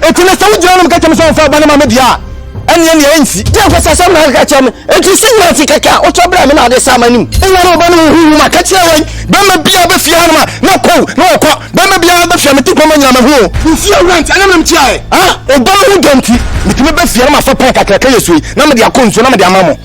Enti na sɛ wogyina nom ka kyerɛ me sɛ wɔmfa wo ba no ma me deɛ a, ɛnneɛ nea ɛnsi. Deɛ ɔpɛ sɛ asɛm na aka kyerɛ me. Enti sɛ nyina ase kɛkɛ a, wotɔ brɛ me na wode sa m'anim. Nna na ɔba no wɔ huhu mu a, ka kyerɛ wɔn, Bɛmma biaa bɛfie hanom a, na pow, na wɔkɔ. Bɛmma biaa bɛfie a, mete kɔma nyina mahu o. Mefie awura nti, ɛna menim kyeaɛ. A, ɔba no ho dɔ nti, metumi ba fie na mafa pɛn kakraka yɛ sui, na mede akɔ nsuo na mede ama mo.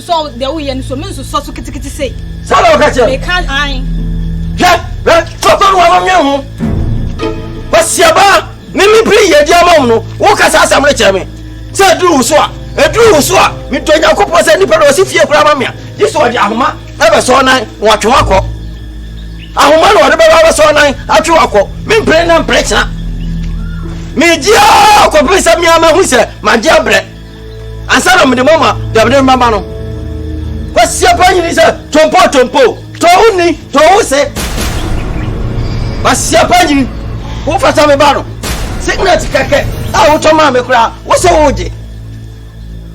So deɛ woyɛ no so me nso sɔ so kitikiti sei. Saa na ɔka kyerɛ me. Meka ae. Hwɛ hwɛ tɔtɔ no wa ma nwene ho. Ɔsiabaa ne me biri yɛ di ama wo no woka saa asɛm no kyerɛ me sɛ ɛduru wo so a ɛduru wo so a medɔ nyankopɔn sɛ nnipa na ɔsi fie koraa ma me a gye sɛ ɔde ahoma ɛbɛsɔ nan na watwe wakɔ ahoma na ɔde bɛba bɛsɔ nan atwe wakɔ mempere na mpere kyena megye a kɔpere sɛ mea mahu sɛ magye abrɛ ansa na mede mo ama dabere mmama no kwasia pa nyini sɛ tompo tompo tɔwo nni tɔwo se kwasia pa nyini wofata me ba no signet kɛkɛ a wotɔ maa me koraa wo sɛ wogye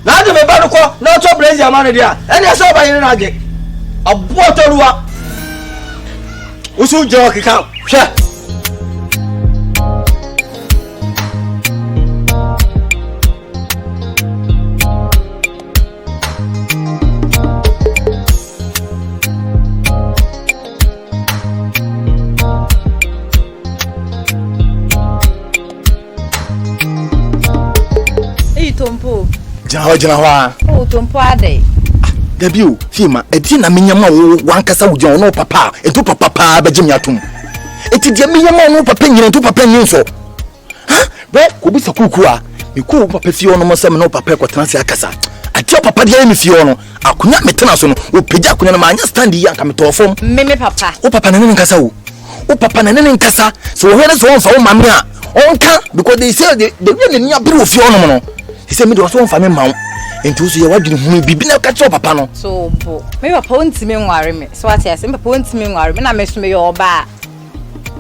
na ade me ba no kɔ na ɔtɔ brɛsi ama no deɛ a ɛneɛ sɛ ɔba yere no agye ɔboɔ tɔruwa wo so gyina ɔkeka hwɛ gyina hɔ gyina hɔ a. o oh, tompo adai. Ah, dabi o fie ma ɛdi na menya ma wo wankasa wo gyina ɔno papa a ɛnto papa paa bɛgye me atom ɛti deɛ menya ma ɔno papa nyina ɛnto papa nyɛ nsɔ ha bɛ kɔbisa kuku a mekɔɔ wo papa fie ɔnom sɛ me ne wo papa kɔtena ase akasa adeɛ wo papa de ayɛ me fie ɔno akonya metena so no wɔpagya akonya no maanyɛ stand yi anka metɔɔ fam me me papa wo papa na ne ne nkasa o wo papa na ne ne nkasa sɛ wɔhwɛ ne sɛ wɔmfa wo ma me a ɔnka because they say the the way n'ani abere wɔ fie ɔnom no he sɛ me deɛ ɔsɛ wɔmfa me ma wo nti wo so yɛ w'adwene hunu biribi na ka kyerɛ papa no so bo me papa wontumi nware me so ate ase me papa wontumi nware me na me so meyɛ ɔbaa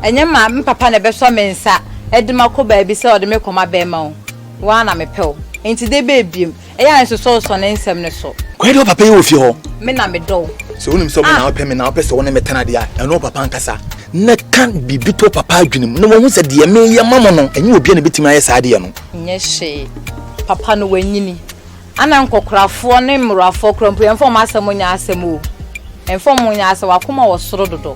Ɛnyɛ ma me papa na ɛbɛsɔ me nsa de makɔ baabi sɛ ɔde me rekɔma bɛrima o, wo ara na mepɛ wo nti de bɛɛ biom. Ɛyɛ a nsosɔwosɔ ne nsɛm no so. Kwae deɛ wo papa yɛ wɔ fie hɔ. Me na medɔ wo. Sɛ wonim sɛ me na wopɛ me na wopɛ sɛ wo ne me tena deɛ a, ɛno wo papa ankasa. Na ka biribi to wo papa adwene mu na wahu sɛ deɛ mereyɛ ma mo no, ɛnyɛ obiara na ɛbɛtumi ayɛ saa adeɛ no. Nyɛ hwee. Papa no wanyini. Ana nkɔkorafoɔ ne mmorowafoɔ koraa mpo yɛmfa wɔn asɛm nyɛ asɛm o. Ɛmfa wɔn nyɛ asɛm, w'akoma wɔ soro dodo.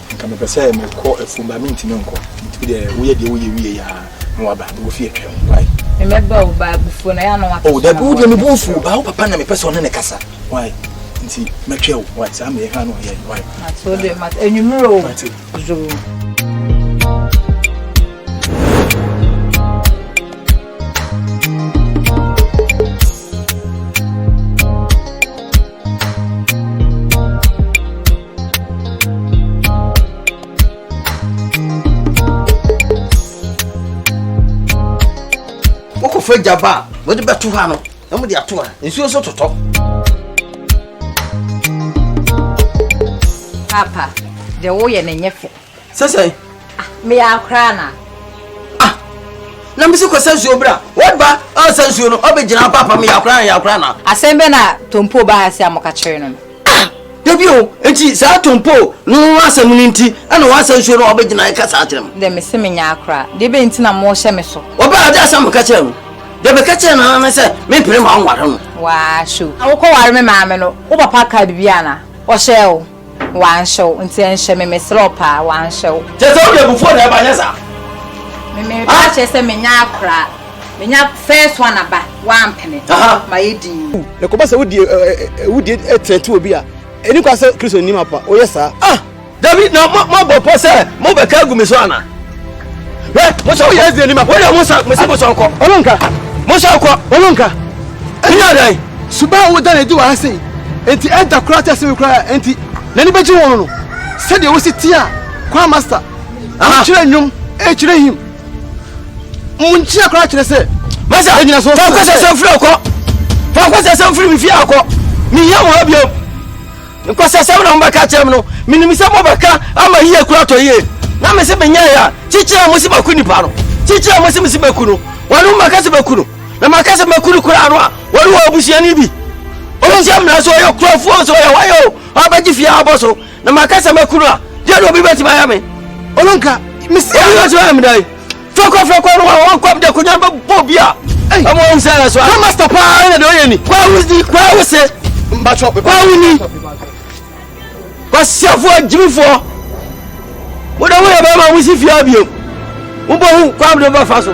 Nka mepɛ sɛ mekɔ afuom ba mentumi nkɔ. Metumi deɛ woyɛ deɛ woyɛ wie yɛ a na waba na wofi atwam. Why? Mɛba wo ba abufuo na yɛ ano wakasa. Oh dabi wo deɛ mebu mfuo ba wo papa na mepɛ sɛ ɔne ne kasa. Why? Nti mɛtwɛ wo. Why? Saa meyɛ hwɛ ano ɔyɛ. Why? Mate wo deɛ mate anwummerɛ o. Mate. Zoo. wokɔfa agyaba a wode bɛto ha no na mode ato ha nsuo nso totɔ papa deɛ woyɛ no nyɛ fɛ sɛ sɛ. Ah, meyɛ akora na. ah na mesi kɔsa nsuo bra what ba ɔsa nsuo no ɔbɛgyina hɔ papa meyɛ akora na yɛ akora na. asɛm bɛ na tompo ba ha se a moka kyerɛ no no. ah dabi o nti saa tompo no asɛm no nti ɛna wɔasa nsuo no ɔbɛgyina ɛka saa kyerɛ m. dɛ mese menyɛ akora deɛ bɛ nti na mohyɛ me so. wɔbɛ ade asɛm meka kyerɛ no deɛ bɛka kyerɛ no ne sɛ mempere ma wonware no. waa show na wokɔware me maame no wo papa ka biribi ana ɔhyɛɛ wo. Wanhyew nti ɛnhyɛ me mesrɛ wo paa wanhyew. Kyerɛ sɛ wode abufuo na ɛba nyɛ saa. Me me ba kyerɛ sɛ menya akora menya first one aba wampene ma yɛ din. Na kɔba sɛ wodi wodi ɛtɛnti obi a ɛni kwa sɛ kristo nim apa oyɛ saa ah. Dabi na mo mo abɔ pɔ sɛ mo bɛ ka gu mi so ana. Hwɛ, mo sɛ woyɛ ɛdze anim a, wode mo nsa, mo sɛ mo sɔ nkɔ. Ɔno nka. Mo sɔ nkɔ. Ɔno nka. Ɛnyɛ adan. Suban a woda no adi wɔ ha sei, enti ɛda koraa kyɛ sɛ koraa enti n'ani bɛgye wɔn no. Sɛdeɛ wosi tie a, kwan masta, wokyerɛ nnwom, ɛkyerɛ him. Mo nkyia koraa kyerɛ sɛ, masa, ɛnyina so. Fa nkɔsɛ sɛ mfiri akɔ. Fa nkɔsɛ sɛ mfiri me fie akɔ. Mehia mo ha biom. Nkwasasɛm na mobɛka kyerɛ me no, menim sɛ mobɛka ama yie kura tɔ yie. Na mese menyɛ yɛ a, kyekyere a mose maku nipa no, kyekyere a mose mese maku no, wɔne mo maka sɛ maku no, na maka sɛ maku no koraa no a, wɔne wɔ abusuani bi. Ɔno sɛ mmara so ɔyɛ kurafoɔ so ɔyɛ hɔyɛ o, ɔbɛgye fie abɔ so, na maka sɛ maku no a, deɛ na obi bɛtumi ayɛ me? Ɔno nka, mesi a. Obi bɛtumi ayɛ me dɛn? fɛkɔ fɛkɔ no wa wɔn kɔm de konya bɛ bɔ bi a ɛmu ɔmu sɛ ɛna so a. na master paa ɛna de ɔyɛ ni. kwa awo di kwa awo se. mbatɔ kwa awo ni. kwa siafoɔ jimifoɔ mo de mo yɛ bɛrɛ ma mo si fie abiem mo bɔ hu kwa mo de ba fa so.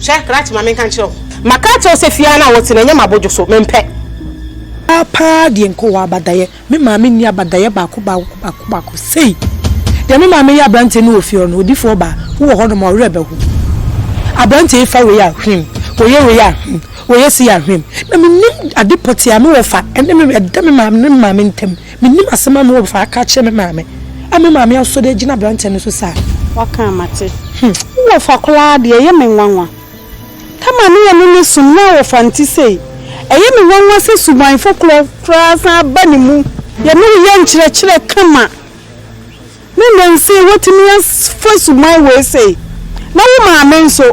Hwɛ, krakye ma menka nkyerɛ wo. Maka akyerɛ wo sɛ fie ara no a wote no, ɛnyɛ m'abodwo so. Mempɛ. Paa paa deɛ nka ɔwɔ abadaeɛ. Me maame nni abadaeɛ baako baako baako baako sei. Deɛ me maame yɛ aberanteɛ no wɔ fie hɔ no, odifoɔ ɔbaa, wowɔ hɔnom a, wo werɛ bɛho. Aberanteɛ yi fa wei a, hwim, ɔyɛ wei a, hwim, ɔyɛ sei a, hwim. Na mennim ade pɔtee a me wɔ fa ɛne me, ɛda me maame ne me maame ntam. Mennim asɛm a mewɔ fa aka akyerɛ me maame a me maame asɔ do agyina aberantsɛ no so saa. W'aka a mate. Hmm, wo wɔfa koraa deɛ ɛyɛ me nwanwa. Tama ne yɛne no som na wɔfa nti sei. Ɛyɛ me nwanwa sɛ subanfo korɔ koraa san ba ne mu. Yɛne wo yɛ nkyerɛkyerɛ kama ne nnɛ nsei watumi afa suban wei sei. Na wo maame nso,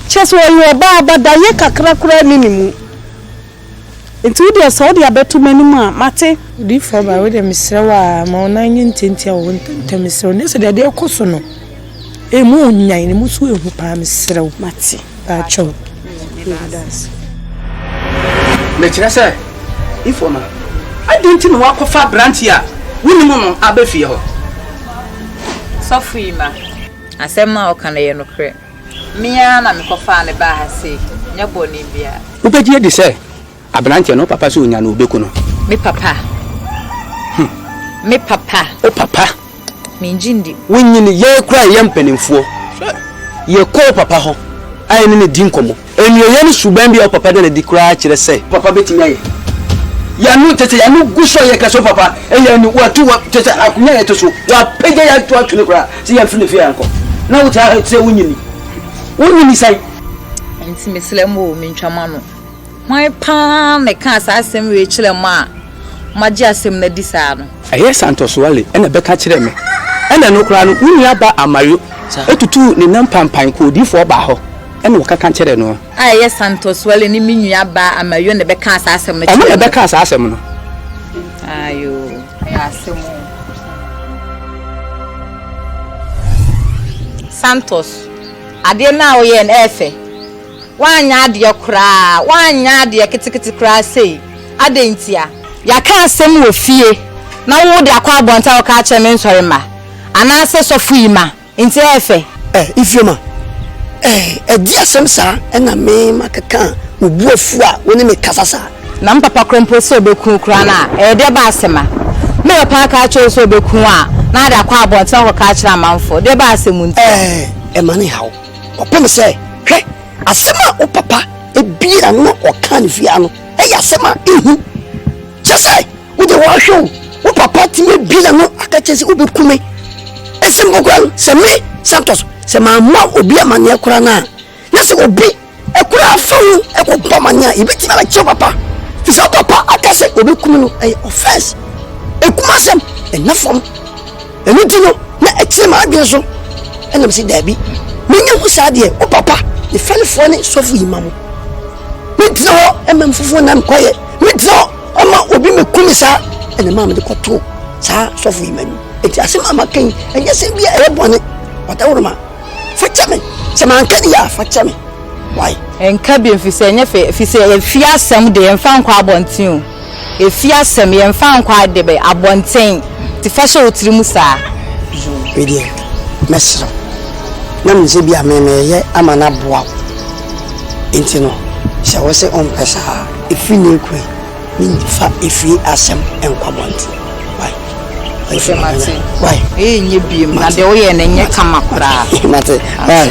kyerɛ sɛ ɔyɛ ɔbaa but dayɛ kakra koraa nni ne mu. Nti wo deɛ sɛ wode abɛto m'anim a, mate. Odiyifoɔ ba, wo deɛ mesrɛ wo ara, ma wo nan nyɛ ntiantia wɔ hɔ ntɛmntɛm, mesrɛ wo, nyɛ sɛ deɛ adeɛ rekɔ so no, ɛmu nnwan, na ɛmu nso ɛhu paa, mesrɛ wo. Mate. Baakyɛw. Meda ase. Mekyerɛ sɛ, Ifo no, adɛn nti na woakɔfa aberanteɛ a wonim no aba fie hɔ? Sɔfoyima, asɛm no a ɔka no yɛ nokorɛ. Me ara na mekɔfaa no baa ha sei, nyɛ bɔne biara. Wobɛgye adi sɛ aberanteɛ no, wo papa sɛ ɔnya no, ɔbɛku no? Me papa? Hmm. Me papa? Wo papa? Mengye ndi. Wonyin yɛn koraa a yɛyɛ mpanimfoɔ. Yɛkɔ wo papa hɔ a yɛne no di nkɔmmɔ. Anuoyɛ ne suban bi a wo papa da no adi koraa kyerɛ sɛ. Papa betumi ayɛ. Y'ano kyerɛ sɛ y'ano gu so a yɛka sɛ wo papa ɛyɛ anu watu wa kyerɛ sɛ akonya a yɛte so w'apagya yɛ ato ato no koraa sɛ yɛnfiri ne fie ankɔ na wo taa sɛ wo nyini wo nyini san. Nti mesrɛ mo o mentwa mo ano hwan paa na ɛkaa saa asɛm wei kyerɛ mo a mo agye asɛm no adi saa no. Ɛyɛ Santos Wale ɛna ɛbɛka kyerɛɛ me ɛna ɛno koraa no wo nua ba Amayo tutuu ne nan panpan kɔɔ odiifoɔ baa hɔ. Ɛnna wɔkeka kyerɛɛ no. A ɛyɛ Santos Wale ne me nuabaa Amayo na ɛbɛkaa saa asɛm no kyerɛɛ me. Wɔn na ɛbɛkaa saa asɛm no. Aai oo, ɛyɛ asɛm oo. Santos, adeɛ no a woyɛɛ no ɛyɛ fɛ. Woanyɛ adeɛ koraa, woanyɛ adeɛ ketekete koraa sei. Adɛn ntia? Yɛaka asɛm wɔ fie na wo de akɔ abɔnten a woka akyerɛ me nsɔremma anaasɛ sɔfo yi ma. Nti ɛyɛ fɛ. Eh, Ifeoma, eh, ɛdeɛ asɛm saa ɛna me ma kɛkaa wo bu afu a wo ne me kasa saa. Na me papa korɔ mpo sɛ ɔbɛku wo koraa no a, ɛyɛ deɛ ɛba ase ma. Me papa aka akyerɛ wo sɛ ɔbɛku wo a, na ade akɔ abɔnten akɔka akyerɛ amanfoɔ, deɛ ɛba ase mu nti. Eh, ɛma ne haw. Ɔpɛ me sɛ, hwɛ, asɛm a wo papa ebiaa no na ɔkaa no fie ha no, ɛyɛ asɛm a ehu. Kyerɛ sɛ. wode wɔahwɛ wo wo papa tumi abie na no aka kyerɛ sɛ wobɛku me ɛsɛ mpo kora no sɛ me santos sɛ mamma obi amanneɛ kora no a na sɛ obi ɛkora afa ho ɛkɔbɔ amanneɛ a yɛbɛtumi abɛkyerɛ papa fi sɛ papa aka sɛ wɔbɛku me no ɛyɛ offense ɛkuma asɛm ɛna fam ɛno nti no na ɛkyerɛ ma adwene so ɛnam sɛ daabi menya ho saa deɛ wo papa ne fɛnefoɔ ne sɔfo yi ma mo mentena hɔ ɛma mfofoɔ nam kɔyɛ mentena hɔ Ɔma obi me ku me saa ɛna maa mede kɔtoo saa sɔfo yi m'anim eti asɛm a maka yi ɛnyɛ sɛm bi a ɛyɛ bɔne ɔdawuruma fa kyɛ me sɛ manka ne yɛ a fa kyɛ me why. Nka bi mfisɛ ɛnyɛ fɛ fisɛ efie asɛm de yɛnfa nkɔ abɔnten o efie asɛm yɛnfa nkɔ ade bɛ abɔnten ti fa hyɛ wo tiri mu saa. Medeɛ mɛsrɛ wo na mensɛ bi a me meyɛ ama no aboa wo. Enti no, sɛ wose ɔmpɛ saa a, efi nnɛ rekɔ yi, mimfa efie asɛm nkɔ abɔnten. Wai? Ɔse, Mate. Wai? Eyi nyɛ biem. Na deɛ woyɛɛ no nyɛ kama koraa. Mate. Wai?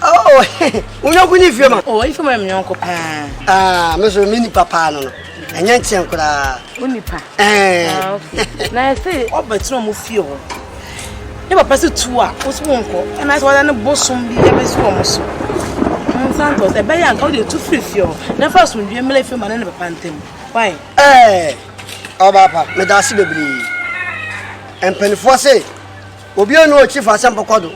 Oh, wo yɔnko ne Ifeoma? Oh, Ifeoma yɛ me yɔnko paa. Ah, me so me nipa paa no no. Ɛnyɛ nkyɛn koraa. Wo nipa? Eh. Ah, okay. Na ɛsɛ ɔba tena ɔmo fie hɔ. Ne papa sɛ tu a, wo so wonkɔ. Ɛna sɛ wɔda ne bosom bi ɛbɛsi wɔn so. Santos, ɛbɛyɛ anka wode tu firi fie hɔ. Na fa asomdwie mmla Ifeoma ne ne papa ntam. Why? Eh, ɔba pa, meda ase bebree. Mpanimfoɔ se, obi a ɔne ɔkyi fa asɛm pɔkɔ do.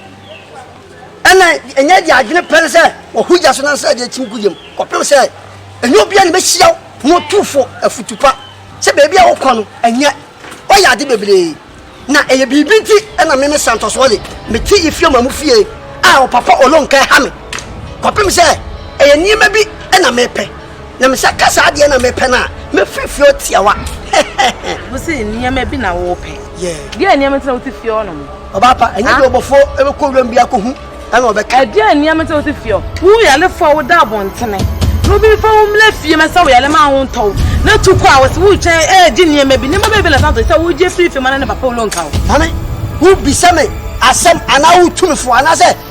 Ɛnna ɛnyɛ deɛ adwene pɛ no sɛ wɔhoro gya so na nsra deɛ kyim gu yam kɔpem sɛ ɛnyɛ obiara na ɛbɛhyia wo pono tufo afutu pa sɛ baabi a wokɔ no ɛnyɛ ɔyɛ ade bebree na ɛyɛ biribi nti ɛnna me me Santos Wale mete Ephraim amu fie a ɔpapa Olonka ɛha me kɔpem sɛ ɛyɛ nneɛma bi na mepɛ Na me sɛ ka saa deɛ na mepɛ no a mɛfiri fie ɔtiawa hɛhɛhɛ. Wo se nneɛma bi na wo pɛ. Yeah. Deɛ nneɛma nti na wote fie ɔ nom. Ɔbaa pa, ɛnyɛ deɛ ɔbɔfoɔ ɛbɛkɔ wuram bi akɔhu ɛna ɔbɛka. Ɛdeɛ nneɛma nti na wote fie ɔ. Wo yalefoɔ a woda abontene no obi mfa wo mmra fie ma sɛ wo yale ma ho ntɔ wo na tu kɔ a wɔse woretwɛn ɛregye nneɛma bi. Nneɛma bɛn bi na san tɔ sɛ wogye firi fie ma no ne papa wo lɔnka wo. Maame, wobisa me asɛm anaa wotu me fo anaasɛ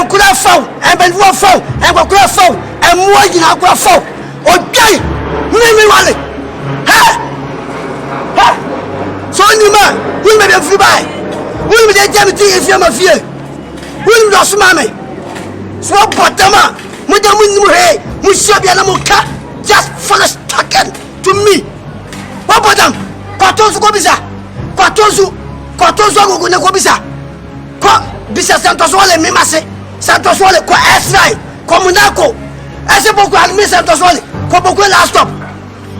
Nkura faw, mpanimfoɔ faw, nkɔkora faw, mmoa nyinaa kora faw. Odwan ne ne wale. Hɛ! Hɛ! Sɛ onim a, wonim baabi a mfiri bae. Wonim deɛ nti a mete efie ma fie. Wonim deɛ ɔsoma me. Sɛ wɔbɔ dam a, mo deɛ monim hwee. Mohyia bia na moka just finish talking to me. Wɔbɔ dam, kɔto nso kɔbisa. Kɔto nso, kɔto nso agogo na kɔbisa. kɔ bisa sɛntɔsoɔ le mima se sɛntɔsoɔ le kɔ ɛsrae kɔ monaco ɛsɛ boko haram mi sɛntɔsoɔ le kɔ boko last stop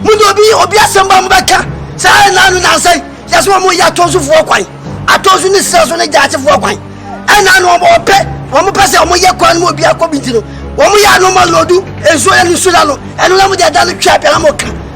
mu de obi obi asɛm ba mu bɛka saa ɛna no nansa yi yɛsɛ wɔn yɛ atɔnsofoɔ kwan atɔnso ne sira so ne gyaakyefoɔ kwan ɛna no wɔn ɔpɛ wɔn pɛ sɛ wɔn yɛ kwan mu obi akɔ bi ti no wɔn yɛ anoma lɔdu nsuo yɛ no nsuo la no ɛno na mo de ɛda no twɛ apɛ na mo ka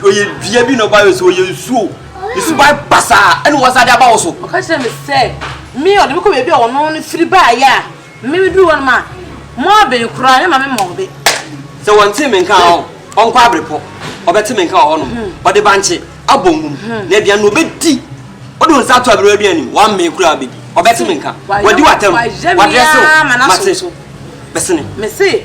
Ɔyɛ dua bi na ɔba yɛ so, ɔyɛ nsuo. Ne suban basaa ɛna wɔn nsa de aba wo so. Ɔka kyerɛ me sɛ, me ɔde me kɔ baabi a ɔno no firi baeɛ a, me meduru hɔ no ma, Moaben koraa, me ma me ma ɔbe. Sɛ wɔntee me nka a, ɔnkɔ abrepɔ, ɔbɛte me nka wɔ hɔnom. Ɔde bankye abɔ nwom, na aduane no ɔbɛdi. Ɔde wɔn nsa ato aberewa bi anim, wammee koraa bɛdi. Ɔbɛte me nka, wadi w'atɛm, wadrɛse wo, mate, bɛsene.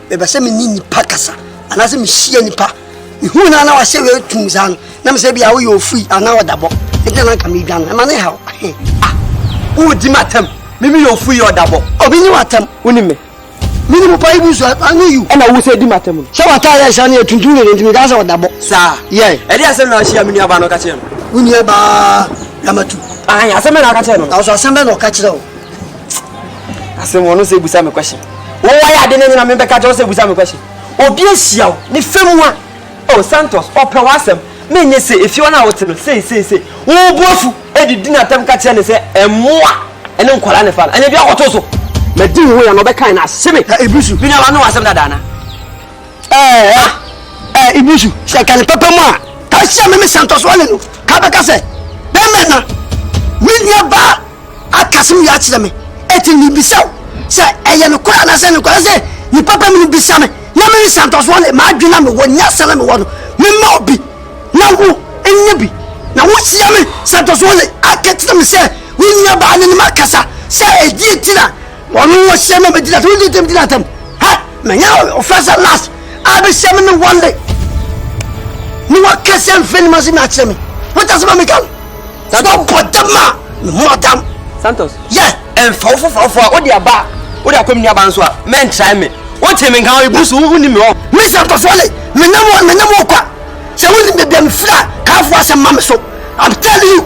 Mepɛ sɛ me ne nnipa kasa anaasɛ mehyia nnipa. Mehuu no a na wahyɛ wei tum saa no, na mesɛ bia woyɛ ofiri anaa ɔdabɔ. Ɛnti na nka medwa no, ɛma ne haw. Ah, wodi m'atam. Mimi yɛ ofiri yɛ ɔdabɔ. Obi nye w'atam. Wonim me? Mene mu pa ibu so, I know you. Ɛna wo sɛ di m'atam no. Sɛ w'ata yɛ hyɛ no yɛ tuntum dede nti mekaa sɛ ɔdabɔ. Saa? Yɛ. Ɛde asɛm na ahyia me nuabaa no ka kyerɛ no. Wo nuabaa Ramatu? Ahan, asɛm bɛ na ɔka kyerɛ no. Nanso asɛm bɛ na ɔka kyerɛ wo? asɛm wɔn sɛ ebusa mi question wɔn wɔn ayɛ ade ne nyina mi bɛka kyɛw sɛ ebusa mi question obi ahyia o ne fam wa o oh, santos ɔpɛ wɔn asɛm mi nye se efi wɔn a wɔte no sei sei sei wɔn bu afu edidi na atɛm ka kyerɛ ne sɛ ɛmoa ɛne nkɔla ne fa no ɛnyɛ bi akɔto so na di wo yɛ na ɔbɛka na ase me ebusu bi na wɔn ano asɛm dada na ɛɛ ɛɛ ebusu sɛ kane pɛpɛ mu a ka hyia mi mi santos wɔn ne no ka bɛka sɛ bɛmɛ na mi nua baa. aka asɛm wei akyerɛ me, enti mebisa wo sɛ ɛyɛ nokorɛ anaasɛ ɛnyɛ nokorɛ, ɛsɛ sɛ nnipa pa mu no bisa me na mede santɔsoɔ ne m'adwene a mewɔ, nyansa na mewɔ no, mema obi, na wo nya bi, na wohyia me santɔsoɔ ne aka kyerɛ me sɛ wo nuabaa ne ne ma kasa sɛ ɛdi enti na wɔno wɔ hyɛ me bɛdi na tɛm, tɛm, tɛm, tɛm, ha, menya ɔfɛ sɛ last, abɛhyɛ me ne wɔn de, ne wɔkɛsɛ mfɛ ne ma sɛ me akyerɛ me, wata sɛ ma meka no. Na dɔ bɔ dam a me ho adam. Santos. Yɛ. Ɛnfa wo foforɔfoɔ a wode aba wode akɔ me nuabaa nso a mɛntrae me wote me nka wo ebu so wonni me hɔ. Me Santos Wale menam wɔ menam wɔ kwa sɛ wonim baabi a mefiri a kaafo asɛm ma me so I'm telling you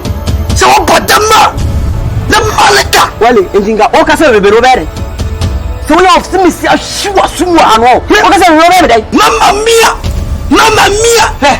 sɛ wobɔ dam a ne malika. Wale nti nka woka sɛ bebe no wobɛyɛ dɛn sɛ wonya ɔfse mesi ahwe wɔ aso mu ano woka sɛ bebe no wobɛyɛ me dɛn. Mama mia mama mia.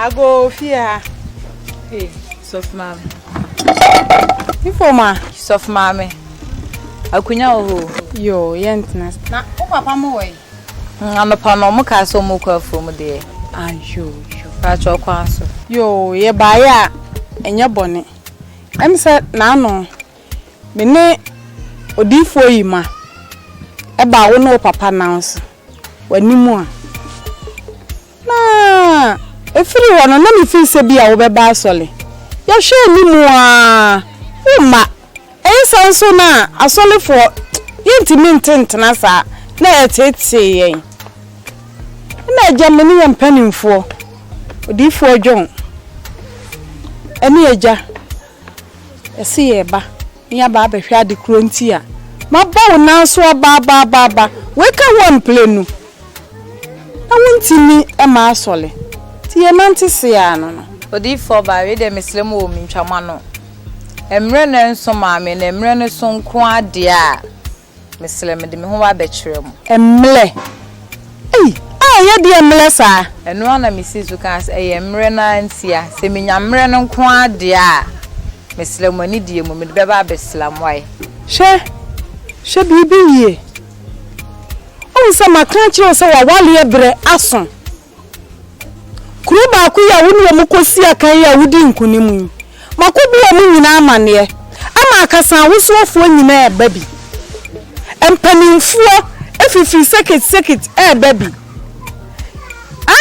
Ago fie ha. Hey, sɔfo maame. Ifo ma. Sɔfo maame. Akunya wɔ hɔ. Yo, yɛntena. Na wo papa mo wɔ yi. Mm, anɔpa no ɔmo kaa sɛ ɔmo kɔ afuo mu deɛ. Ayo, yo. Paatwa ɔkwan so. Yo, yɛ baayɛ a ɛnyɛ bɔne. Ɛm sɛ n'ano. Me ne odiyifoɔ yi ma ɛbaa wo ne wo papa nan so w'anim a, na ɛfiri hɔ no na mefiri sɛ bi a wobɛba asɔre. Yɛhwɛ anim ara womma. Ɛyɛ saa nso na asɔrefoɔ yɛntumi nte ntena saa na ɛteetee yɛn. Ɛna agya me ne yɛn mpanimfoɔ, odiyifoɔ John, ɛne agya. Ɛse yɛ ba ne yɛ aba abɛhwɛ ade korɔ nti a mabɔ wo nan so aba aba aba aba wei ka ho amplenu na wo ntimi ma asɔle nti yɛ nante seaa no no. Odiyifoɔ ɔbaa wei deɛ mesrɛ mo o mentwa mo ano mmerɛ no nso maame na mmerɛ no so nko ara deɛ a Mesrɛ mede me ho abɛkyerɛ mo. Mmerɛ? Ei! A ɛyɛ deɛ mmerɛ saa? Ɛno ara na mesii so kaa sɛ, Ɛyɛ mmerɛ no ara ntia. Sɛ menya mmerɛ no nko ara deɛ a, mesrɛ mo anidie mu, mede bɛba abɛsra mo ayɛ. Hwɛ, hwɛ biribi yie. Woahu sɛ maka akyerɛ wo sɛ w'awareɛ berɛ aso. Kuro baako yi a wo ne wɔn kɔsii akan yi a wodii nkonim yi, makɔbu wɔn nyinaa amanneɛ ama akasawosoɔfoɔ nyinaa reba bi, mpanimfoɔ fifiri sekit sekit reba bi, a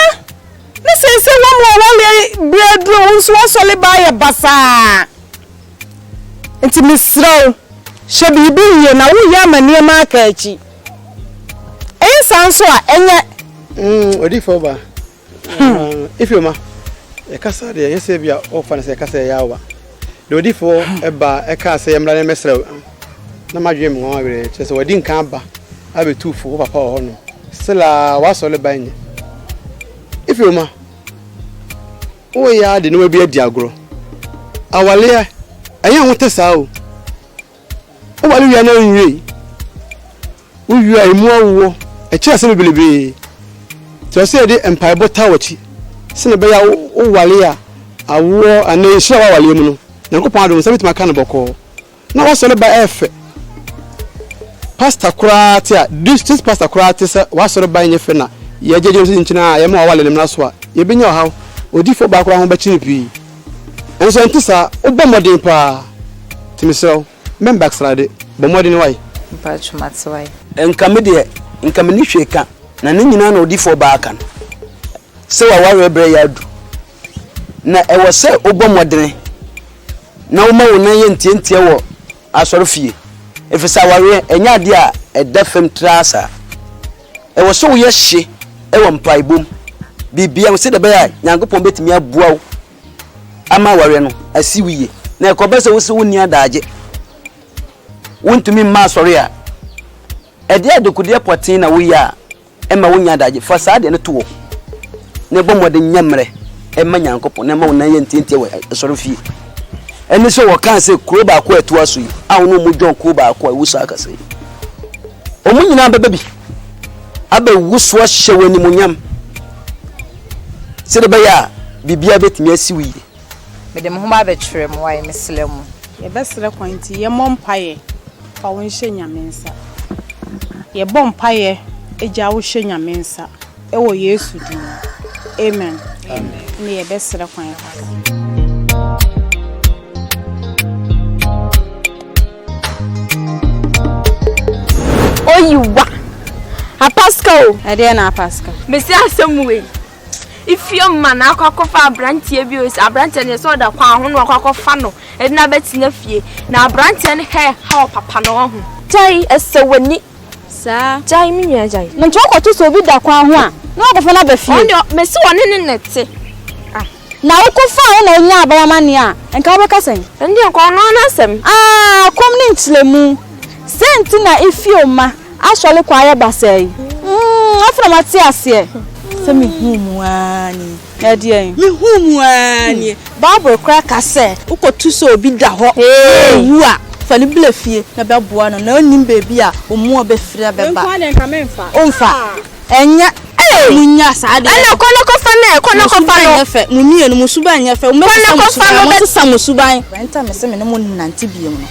na seesei wɔn a wɔwaleɛ berɛ aduro wo nso woasɔle baa yɛ basaa. Nti mesrɛ wo, hyɛ biribi yie na woyɛ ama nneɛma aka akyi. Ɛyɛ saa nso a ɛnyɛ. Mm, odifo ba. Hmm. Ah, Ifioma, ɛkasa deɛ ɛnyɛ sɛ bi a ɔfa no sɛ ɛkasa ɛyɛ awa. Deɛ odifo ɛba hmm. ɛka sɛ yɛmmra ne mmɛsrɛ na madwene mu wɔn awerɛ kyerɛ sɛ wɔadi nka aba abɛtu fo wo papa wɔ hɔ no. Sela wasɔre ba nyɛ. Ifioma, woyɛ ade ne wabi adi agorɔ. Awaleɛ, ɛnyɛ ho te saa o. Woware wie a na ɛnwiei. Wowie a emu awoɔ. Ɛkyerɛ ase bebrebee. Nti ɛsɛ sɛ yɛde mpaebɔ taa w'akyi sɛnea ɛbɛyɛ a woware a awoɔ anaa nhyira wɔ awareɛ mu no, Nyankopɔn adom nsa bɛtumi aka no bɔkɔɔ. Na w'asɔre ba ɛyɛ fɛ. Pastor koraa te a, district pastor koraa te sɛ w'asɔre ba nyɛ fɛ na yɛgyegye no so kyinkyin a yɛma w'aware no mmra so a, yɛbɛnya ɔhaw. Odiyifoɔ baa koraa ho bɛkye no pii. Nanso sɛ ɛnte saa, wobɔ mmɔden paa nti mesrɛ wo mɛn backslide, bɔ mmɔden wai. Mpacho mate wai. Nka me deɛ nka menni hwee ka na ne nyinaa na odifoɔ baa ka no sɛ w'awareɛ berɛ yɛ adu na ɛwɔ sɛ wobɔ mmɔdene na woma wo nan yɛ ntiantia wɔ asɔrefie ɛfiri sɛ awareɛ ɛnyɛ adeɛ a ɛda fam traa saa. ɛwɔ sɛ woyɛ hye wɔ mpaebɔ mu, biribiara mu, sɛdeɛ ɛbɛyɛ a Nyankopɔn bɛtumi aboa wo ama awareɛ no asi wo yie. Na ɛkɔba sɛ wosɛ wonni adagye, wontumi mma asɔre a, ɛdeɛ adekodeɛ pɔtee na woyɛ a ɛma wonya adagye. Fa saa adeɛ no to hɔ na ɛbɔ mmɔden nyɛ mmerɛ ɛma Nyankopɔn na ɛma wo nan yɛ ntiantia wɔ asɔre fie. Ɛne sɛ wɔkaa sɛ kuro baako a ɛtoa so yi a wo ne wɔn dwɔn kuro baako a ɛwɔ saa kasa yi. Wɔn nyinaa bɛba bi abɛwu so ahyɛ wo animuonyam sɛdeɛ ɛbɛyɛ a biribiara bɛtumi asi wo yie. Mede me ho ba abɛkyerɛ mo a mesrɛ mo. Yɛbɛsrɛ kwan nti yɛmmɔ mpaeɛ fa wo nhyɛ Nyame nsa. Yɛbɔ mpaeɛ gya wo hyɛ Nyame nsa. Wɔ Yesu din mu, amen. Ɛnde yɛbɛsrɛ kwan kakra. Oyiwa. Apaska o. Ɛdeɛ na apaska. Mesi asɛm wei. Ifie mma na akɔ akɔfa aberanteɛ bi osi aberanteɛ no sɛ ɔda kwan ho na ɔkɔ akɔfa no ɛde na abɛtena fie na aberanteɛ no hɛ ha ɔpapa na ɔho. Gyae ɛsɛ w'ani saa. Gyae me nua gyae. Nti wokɔto sɛ obi da kwan ho a na wakɔfa no aba fie. Ɔno deɛ mese ɔne ne na ɛte ah. Na wokɔ faa no na onyaa aba wama nea a nka wobɛka sɛn. Ɛno deɛ nka ɔno ara n'asɛm. Aah kɔm ne nkyerɛmu. Sɛn nti na Ifio mma asɔre kɔ ayɛ basaa yi? Mmm afei na mate aseɛ. Sɛ mehuu mu aa nii. Ɛdeɛn? Mehuu mu ara nie. Bible koraa ka sɛ. Wokɔto sɛ obi da hɔ na ɔwu a, fa no bla fie na bɛboa no na ɔnnim baabi a ɔmua bɛfiri abɛba. Me nkoa deɛ nka memfa. Womfa. Ɛnyɛ. Hey! Monnya saa adeɛ. Ɛna kɔ na kɔfa no ɛ, kɔ na kɔfa no. Mo suban nyɛ fɛ, mo mmienu mo suban nyɛ fɛ. Kɔ na kɔfa no bɛ. Mo sesa mo suban. Ɛnta me se me ne mo nnante biom no.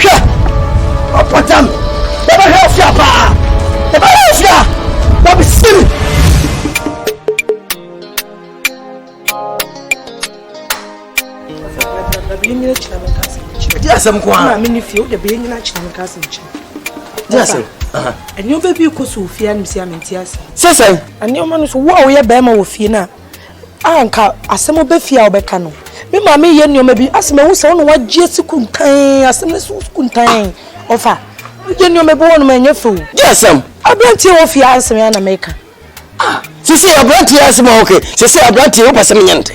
Hwɛ! Ɔpɔtam bɛbɛhwɛ afia paa, ɛbɛyɛ afia na bɛsiri. Di asɛm ko ara. Maame ne fie, wo de bɛyɛ nyina kyerɛ me ka asɛm kyerɛ. Di asɛm. Nneɛma bi kɔ so wɔ fie a na msi a mente ase. Sɛ sɛn? Nneɛma no so wo a woyɛ bɛrima wɔ fie no a a anka asɛm bɛ fie a wobɛka no me maame yɛ nneɛma bi asɛ mahu sɛ wona wagye asi kuntan asɛm no so kuntan ɔfa yɛ nneɛma bi wɔnom ɛnyɛ fɛ o gye asɛm aberanteɛ wɔ fie ansɛm yɛ na meka sisi aberanteɛ asɛm a wɔkɛ sisi aberanteɛ wopɛ sɛ menyɛ ntɛ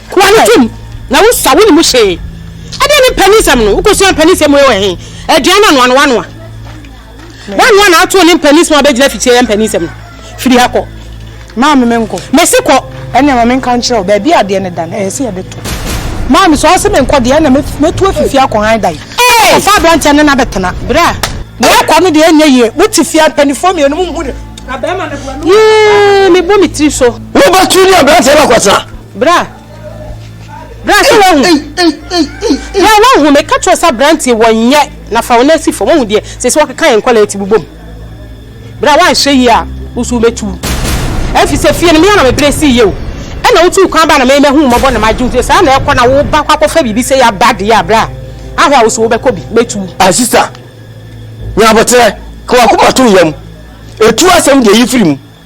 Kura no tom na wo sua wo ne mu hwee. Ɛdeɛ ne mpaninsɛm no wokɔ sua mpaninsɛm wei wɔ he? Aduan anoa no wanoa. Wanoa na ato ne mpaninsɛm a bɛgyina fikyire yɛ mpaninsɛm no. Firi ha kɔ. Maame me nkɔ. Mese kɔ. Ɛnna ma me nka nkyerɛ wo baabi a adeɛ no da no ɛyɛ sɛ yɛde to. Maame sɛ ɔse me nkɔ deɛ ɛnna mɛtu afifie akɔ han dan. Ɔfa aberanteɛ no na bɛtena. Bra. Na ɛkɔ no deɛ ɛnyɛ yie. Mote fie a mpanifoɔ mmienu mo nhu ne. Na bɛrima no boa no. Yee mebɔ me tiri so. Wobɛtu ne aberanteɛ no akɔtena. Bra! Bra sɛ woahu. Bra woahu, meka kyerɛ wo sɛ aberanteɛ wɔnyɛ na fa wo nan si fam, woahu deɛ seesei wɔkeka yɛn nkwadaa ti bobom. Bra woanhwɛ yie a wo nso wobɛtu. Ɛfiri sɛ fie no me ara na mebrɛ sii yie o. Ɛna wotuu kwan baa na me mahu wo mmɔbɔ na magye wo ti, saa na ɛkɔ na wo ba kɔ akɔfa biribi sɛ yɛaba deɛ a bra ahwɛ a wo nso wobɛkɔ bi, mɛtu wo. Ah sister, nya aboterɛ, ka w'akoma to wo yam, tu asɛm deɛ yi firi mu.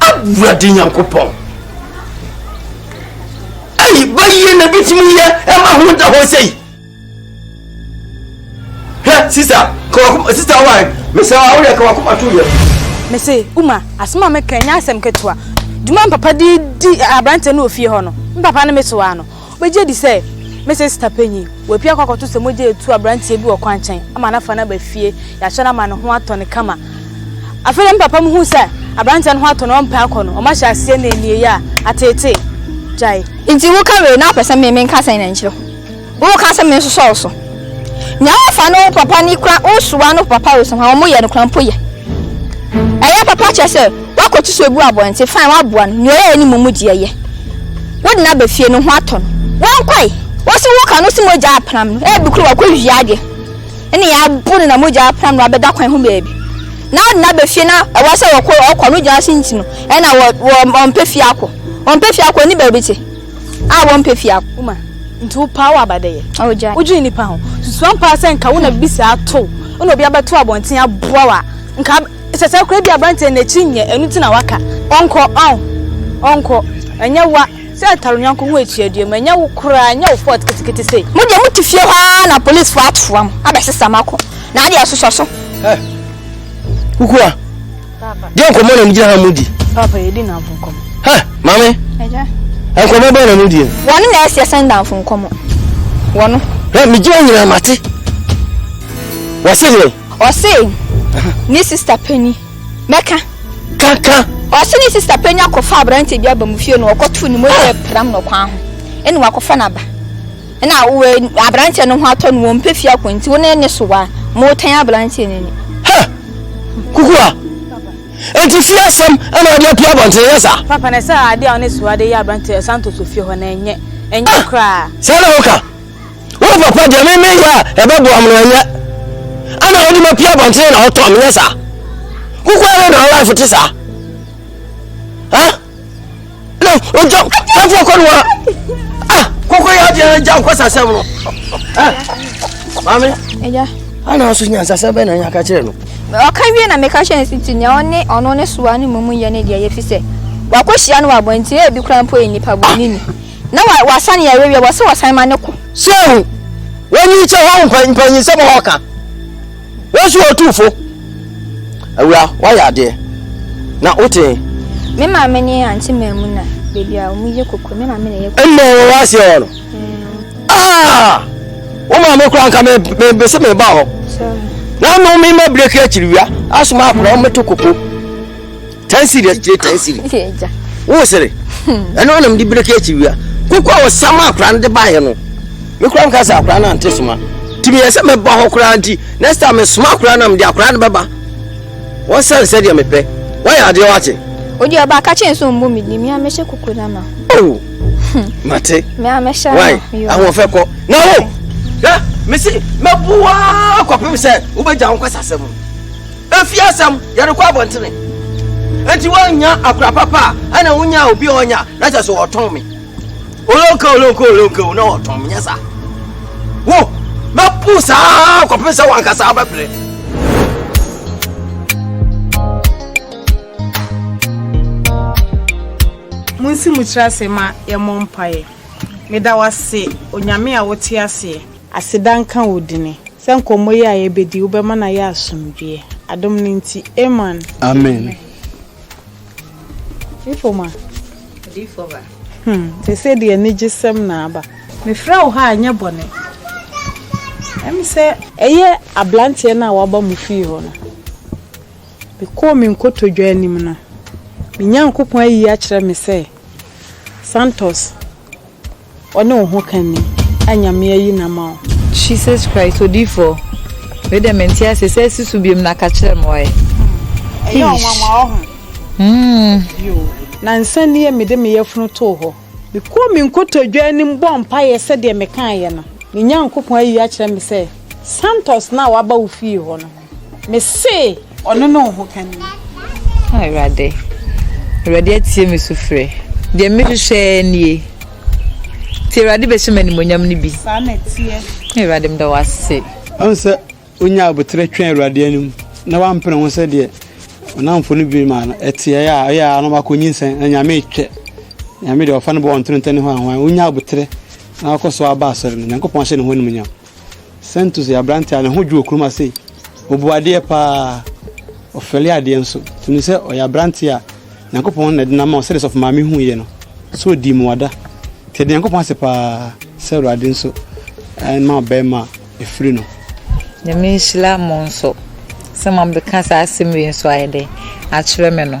awurade nyankopɔn ɛyi bayie na bitumi yɛ ɛma ho da hɔ sɛyi hɛ sista kɔwakoma sista wae mesɛ awoyɛ kɔwakoma to yɛ mese uma asɛm a meka ɛnyɛ asɛm ketewa dwuma mpapa de di aberante no wɔ fie hɔ no mpapa no metoa no Wobegye adi sɛ me sista panyin, wapue akɔ akɔto sɛ mogya retu aberanteɛ bi wɔ kwankyɛn ama no afa no aba fie, yɛakyɛ no ama ne ho atɔ no kama. Afei deɛ me papa muhu sɛ aberanteɛ no ho atɔ no, ɔmpɛ akɔ no, ɔma hyɛ aseɛ nɛnnieeɛ a, ateetee. Gyae. Nti woka wei na wopɛ sɛ me menka sɛn na nkyerɛ ho? Woka sɛ mensosɔw so? Nea wɔfa no ho papa ni kora wosoa no papa resɔn a wɔyɛ no kora mpo yɛ. Ɛyɛ papa kyerɛ sɛ woakɔtu so agu abɔnten fine woaboa no nea ɔyɛeɛ no mu mu deɛ yɛ. Wode no aba fie no ho atɔ no. Wankɔe. Wose woka no se mogya apram no ebi kora wakɔwia adeɛ ɛne yɛ abo no na mogya apram no abɛda kwan ho baabi na wode no aba fie na ɛwɔ sɛ wɔkɔ ɔkɔ no gyina se nti no ɛna wɔmpɛ fie akɔ wɔmpɛ fie akɔ ne baabi te A wɔmpɛ fi akoma. Nti wopaa wo abadɛyɛ. Wodwene nnipa ho. Susuan paa sɛ nka wo na biribi saa to wo. Wo na obi abɛto abɔnten aboa wo a, nka sɛ saa koraa bi aberanteɛ no n'akyi nyɛ. Ɛno nti na waka. Ɔnkɔ, ɔn, ɔnkɔ. Ɛnyɛ wo a. Sɛ ɛtare yɔnko ho atua dua mu. Ɛnyɛ wo koraa. Ɛnyɛ wo fault ketekete sei. Mo deɛ mote fie hɔ ara na polisfoɔ atoa mo abɛsesa mo akɔ. Na adeɛ ɛsosɔ so. Hɛ! Kukua! deɛ nkɔmmɔ na megyina ha mu di papa yɛdi nnamfo nkɔmmɔ ha maame agya nkɔmmɔ bɛn na mu die wɔne na ɛsi ɛsɛn nnamfo nkɔmmɔ wɔno hɛ megyina nyinaa mate wɔse deɛ ɔse ne sista pani mɛka kaka ɔse ne sista pani akɔfa aberante bi aba mu fie no ɔkɔto ne mogya pram no kwan ho ɛne wakɔfa no aba Nna aberantsɛ no ho atɔ no, wɔmmpɛ fie akɔ ntsi wo ne ne sow a, ma ɔtan aberantsɛ no ani. Hɛ! Kukua! Enti fie asɛm na wɔde apue abɔnten, ɛnyɛ saa? Papa, na ɛsɛ adeɛ a wo ne Suwa de yɛ aberanteɛ a Santos wɔ fie hɔ no, ɛnyɛ, ɛnyɛ koraa. Ah! Saa na woka? Wo papa deɛ me meyɛ a ɛbɛboa me no, ɛnyɛ? Ana wode mapue abɔnten na wotɔɔ me, ɛnyɛ saa? Kukua wei na wo life te saa? Ah! ɔgya ɛfoɔ kɔ no wa kɔkɔ yɛ adeɛ agya nkɔ sasɛm no maame ana so nyansasɛm bɛ na nya ka kyerɛ no ɔka wie na meka kyerɛ nsi nti nea ɔne ɔno ne soa ne mmom yɛ ne deɛ yɛfi sɛ wakɔhyia no wɔ abɔnten a ebi kora mpo yɛ nnipa bɔne ni na wasane yɛ awawie wɔ sɛ wɔsan ma ne ko sɛ wɔnyi kyɛ hɔ mpanyinsɛm a ɔka Wo nso Otumfo Awura woayɛ adeɛ na wotee. Me maame ne Auntie Maamuna baabi a wɔyɛ koko me maame na ɛyɛ koko. Ɛnna ɛwɔ w'aseɛ hɔ no. Ah! Wo maame koraa nka me me se me ba hɔ. Na ano me ma breki akyiri wia asoma akora wɔn to koko. ten series kyerɛ ten series wo sere ɛno anam de bereke akyi wia koko a wɔsa ma akora no de baeɛ no me kora mka sɛ akora no ante soma nti meyɛ sɛ mɛba hɔ koraa nti next time mesoma akora no mede akora no bɛba wɔsɛne sɛdeɛ mepɛ wɔyɛ adeɛ wate odi ɔba aka kyɛn so mbu mi di mi amɛhyɛ koko na ma. owu oh. hmm. mate. mi amɛhyɛ ama yoo ahoɔfɛ kɔ na o oh. na mesi mɛbu waa kɔpem sɛ wobɛgya wo nkɔsasɛm. Efi asɛm, yɛde kɔ abɔntene. Enti woannya akora papa a, ɛna wonya obi a ɔnya, na kyɛ so ɔtɔn me. Olonka, olonka, olonka, na ɔtɔn me, nyɛ saa. Wo, mɛpo saa kɔpem sɛ wankasa wobɛpere. Monsi mo tiri ase ma yɛmmɔ mpaeɛ. Meda wo ase, Onyame a wote aseɛ. Aseda nka wo dini sɛ nkɔmmɔ yi a yɛbɛdi wobɛma no ayɛ asomdwie. Adom no nti. Amen. Amen. Difo ma. Difo ba. Hmm, ɛsɛ deɛ anigye sɛm na aba. Mefrɛ wo ha a nyɛ bɔne. Ɛm sɛ. Ɛyɛ abranteɛ no a waba mo fie hɔ no. Mekɔɔ me nkotodwe anim no, me Nyankopɔn ayi akyerɛ me sɛ Santos. Ɔne wo ho ka ni a Nyame ayi no ama wo. Jesus Christ odiyifoɔ wei deɛ mente aseɛ sɛ asi so biom na ka kyerɛ me wae Ɛyɛ ɔnwanwa ɔho Yoo. Nansa nie mede me yafunu too hɔ. Me kɔɔ me nkotodwe anim bɔɔ mpaeɛ sɛdeɛ me kaeɛ no. Me Nyankopɔn ayi akyerɛ me sɛ Santos no a waba wo fie hɔ no. Me se ɔno ne wo hokani. Ah, Awurade. Awurade atie me sufrɛ. Deɛ mehwehwɛ nie. Nti Awurade bɛhyɛ m'animonyam no bi. Saa na ɛteɛ. Awurade meda wo ase. Ɔn sɛ onyaa aboterɛ twɛn Awurade anim na wampene ho sɛ deɛ ɔnamfo no dwene maa no ɛteɛ a, ɛyɛ ara na wakɔ nyinsɛn na Nyame retwɛ. Nyame deɛ ɔfa no bɔ ɔntonetɛne hɔ anhwan. Onyaa aboterɛ na wakɔ so aba asɔre no, Nyankopɔn ahyɛ ne ho animuonyam. Santos yɛ aberante a ne ho dwo wɔ kurom ha sei. Ɔbu adeɛ paa, ɔfɛle adeɛ nso. Nti no sɛ ɔyɛ aberante a Nyankopɔn na ɛde no ama sɛdeɛ sɔfo maame hu yɛ no. So ɔdi mmuada. Nti ɛde Nyankopɔn ase paa sɛ Awurade nso ma ɔbɛrima a ɛfiri no. Nyame nhyira mo nso sɛ mo abɛka saa asɛm wei nso ayɛ dɛn akyerɛ me no.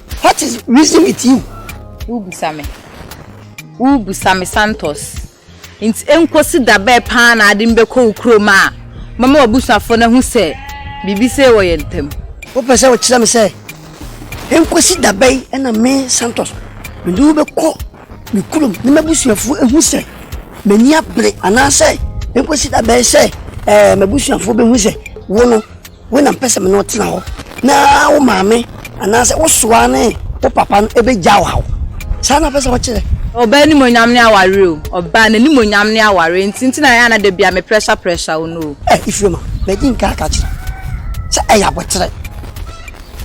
What is reason with you? Wobisa me. Wobisa me Santos. Nti enkosi da bɛɛ paa na ade no bɛkɔ wo kurom a mɛma w'abusuafoɔ no ahu sɛ biribi sei wɔ yɛn ntam? Wopɛ sɛ wokyerɛ me sɛ enkosi da bɛn na me Santos mede wo bɛkɔ me kurom na m'abusuafoɔ ahu sɛ m'ani abere anaasɛ enkosi da bɛn sɛ ɛɛ m'abusuafoɔ bɛhu sɛ wo no Wei na mpɛ sɛ me ne wo tena hɔ, na wo maame anaasɛ wo soa ne wo papa no bɛgyaw haw. Saa na ɔpɛ sɛ ɔkyerɛ. Ɔbaa animuonyam ne aware o. Ɔbaa n'animuonyam ne aware nti nti na ɛyɛ a na da biara me pressure pressure wo no o. Ɛ Ifirema, madi nka aka akyerɛ wo sɛ ɛyɛ aboterɛ.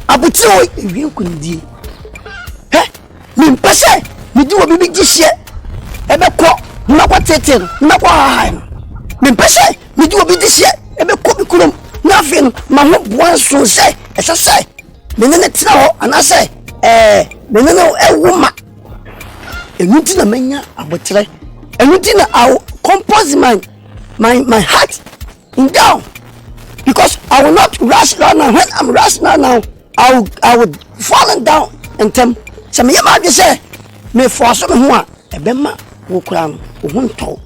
Aboterɛ o! Ɛwie nkonimdie. Hɛ! Mempɛ sɛ mede obi me gyehyeɛ ɛbɛkɔ ne makɔ tete no ne makɔ hahae no mempɛ sɛ mede obi gyehyeɛ ɛbɛkɔ me kurom na afei no ma ho boa nso sɛ ɛsɛ sɛ me ne ne tena hɔ anaasɛ ɛɛ me ne no ɛwo ma ɛnu ti na manya aboterɛ ɛnu ti na awo compose my my my heart in down because I will not rush right now when I'm rush right now I will I will falling down ntɛm sɛ meyɛ maa de sɛ mefɔ so me ho a ɛbɛma wo koraa no wo ho ntɔw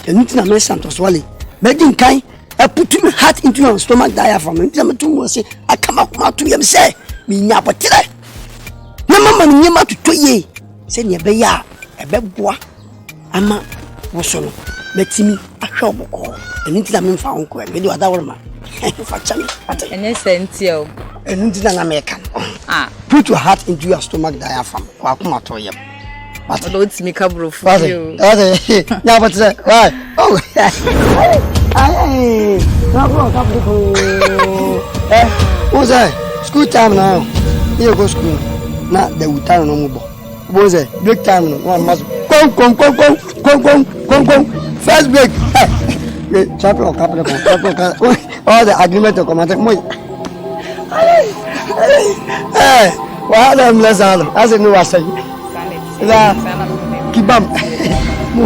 ɛno nti na mɛsa ntɔsoale mɛdi nkan ɛputu me heart into your stomach diaphragm ɛno nti na mɛto mu ase aka makoma ato yam sɛ menya abɔterɛ na mama no nneɛma totɔ yie sɛdeɛ ɛbɛyɛ a ɛbɛboa ama wo so no, mɛtumi ahwɛ wo bɔkɔɔ. Ɛno nti na memfa wo nkɔɛ, mede ɔdaworoma fa kyɛ me. Ɛnyɛ sɛ ntia o. Ɛno nti na na meka no. Ah. Put your heart into your stomach diaphragm. Kɔ akoma to yam. Wate. Ɔdɔ wotumi ka borofo bi o. Wate. Nya bɔ te sɛ. Why? Oh. Ayɛ. Na kɔ ɔka borofo. Eh. Wo sɛ school time na yɛ kɔ school na the wuta no mu bɔ. Wobɛhu sɛ break time no na ɔma so konkonkonkonkonkonkonkonkon first break ɛ eh, champion ɔka pere kɔ champion ɔka ɔwɔ sɛ agreement ɔkɔ ma sɛ mo yi ɛ wɔha na mmerɛ saa no asɛ ne wasɛ na kibam mo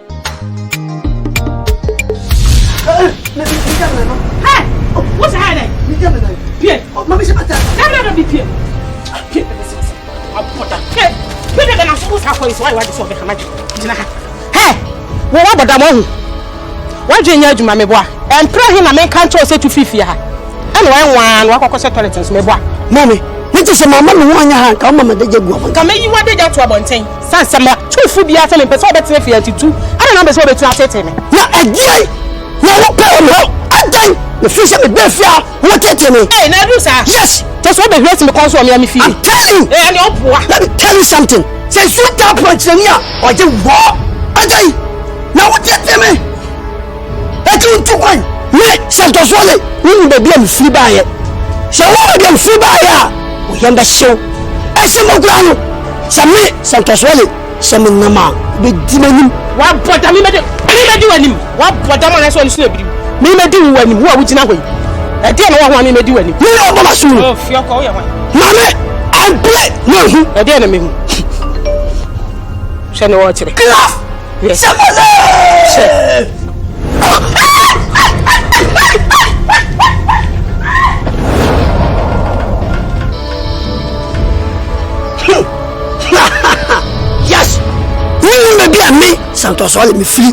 wɔn abɔda mo ho wadwe nyɛ adwuma meboa ɛmpere he na menka nkyɛw sɛ tu fiifie ha ɛna wɔyɛ nwaa na wakɔkɔ sɛ tɔlɛt nso meboa mame mete sɛ mama me ho anyɛ ha nka woma madagya gu ɔmɔ nka mɛyi wadagya to abɔnten Sɛ sɛ mɛ tu fu biara sɛ mempɛ sɛ ɔbɛtena fie nti tu ɛna na mpɛ sɛ ɔbɛtumi atetee me. Na ɛdeɛn na wopɛ wɔ me hɔ? Adɛn? Mefiri sɛ mebaa fie a wotetee me. Ei na aduru saa? Yes. Kyerɛ sɛ wobɛhuri asi me kɔn so wɔ mea me fie? I'm telling you. Ei ɛneɛ woboa. Let me tell you something. Sɛ nsuo taa pɔnkyerɛni a ɔgye wɔ. Adɛn na wotetee me? Eti ntu kwan. Me Santosoɔ me wonim baabi a mefiri baeɛ. Sɛ wonim baabi a mefiri baeɛ a, wo yam bɛhye wo. Ɛsen hɔ koraa no, sɛ me Santosoɔ me sɛ menam a, wobɛdi m'anim. Wabɔ dam, memɛdi memɛdi w'anim. Wabɔ dam anaasɛ w'ani so na abiri wo. Memɛdi wo w'anim, wo a wogyina hɔ yi. Ɛdeɛn na wowɔ ho a memɛdi w'anim? Me na ɔbɔ m'asom no. Oh, Fiɔkɔ, woyɛ hwan? Maame, ampere na ahu. Ɛdeɛn na mehu? Hwɛ ne wɔkyerɛ. Clap! Yes. Sure. santɔsɔ le mefiri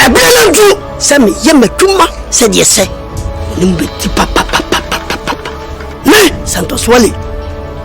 ɛberɛ no ntu sɛ meyɛ m'adwuma sɛdeɛ sɛ ne mu bɛti papapapapapa me santɔsoɔ le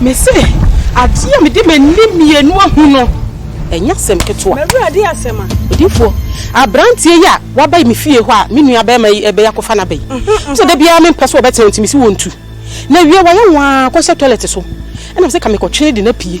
Mese, adeɛ a mede m'ani mmienu ahu no, ɛnyɛ asɛm ketewa. M'Awurade asɛm a. Odiyifoɔ, aberanteɛ yi a waba me fie hɔ a me nua barima yi ɛbɛyɛ akɔfa n'aba yi, wo sɛ da biara mempɛ sɛ ɔbɛtena hɔ nti mese wɔntu. Na wie wayɛ nwaa kɔhyɛ tɔlɛt so, ɛna mese ka mekɔtwe no de no apue.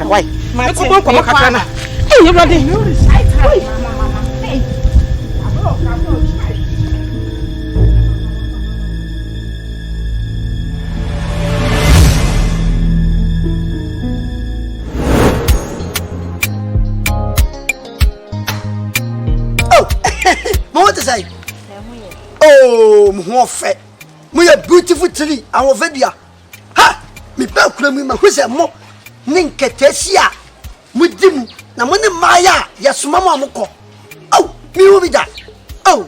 Why? Me ko bon komo kakra na. Hey, Ewurade. Oh, mo te sai. Oh, mo ho fe. Mo ye beautiful tree, awofadua. Ha! Meba akura mu yi, mahu sɛ mo ne nkataasi a modi mu, na mo ne mmaayɛ a yɛsoma mo a mokɔ. Ao, mehu bi da. Ao,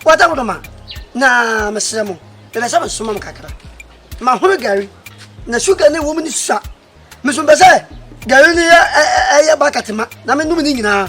wɔda wo dɔm a, na mesrɛ mo, mepɛ sɛ mesoma mo kakra. Mahono gari, na suga ne wɔ mu ne sua. Meso mepɛ sɛ gari no yɛ ɛyɛ bakɛte ma, na menom ne nyinaa.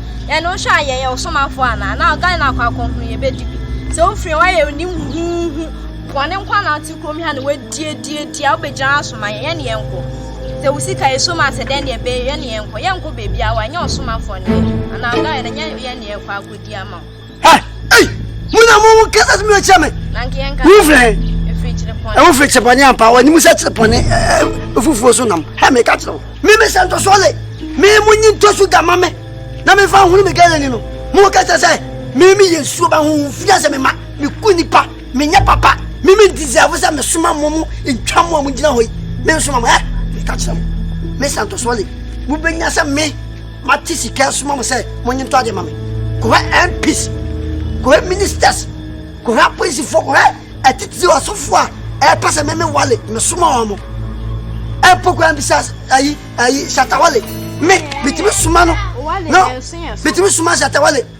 Yɛn no hwɛ a yɛyɛ ɔsomafoɔ anaa? Na ɔga no akɔ akɔhunu yɛbɛdi bi. Sɛ wofiri hɔ ayɛ onim huhuhu. Bɔne nko na wote kurom ha na wadiadiadi a wobɛgyina asoma yɛn. Yɛne yɛn nkɔ. Sɛ wo sika yɛ so ma sɛ dɛn deɛ bɛyɛ yɛne yɛn nkɔ. Yɛn nkɔ baabi a wanyɛ ɔsomafoɔ ne yɛn. Anaa ɔga yɛn na yɛne yɛn kɔ akɔdi ama wo. ha ei mo na mo kasa sɛ mobɛkyerɛ me wofiri he ɛwo firi kyerɛ bɔne ampa wɔnim sɛ kyerɛ bɔne ɛfufuo so nam ha meka kyerɛ wo me mesɛ ntɔsoɔ le me mo nyi ntɔso da ma me na mefa hunu me gɛlɛni no mo kasa sɛ me me yɛ nsuo ba ho mfia sɛ mema meku nipa menyɛ papa me me deserve sɛ mesoma mo mo ntwa mo a mogyina hɔ yi me nsoma mo ɛ meka kyerɛ mo me sɛ ntɔsoɔ le mobɛnya sɛ me Mate sika asoma mo sɛ monye ntɔ ade ma me. Kɔhwɛ MPs, kɔhwɛ ministers, kɔhwɛ apolisifoɔ, kɔhwɛ atitiri asɔfoɔ a ɛpɛ sɛ meme wale mesoma wɔn mo. Ɛmpo koraa bisa ayi ayi Shatta Wale me metumi soma no no metumi soma Shatta Wale.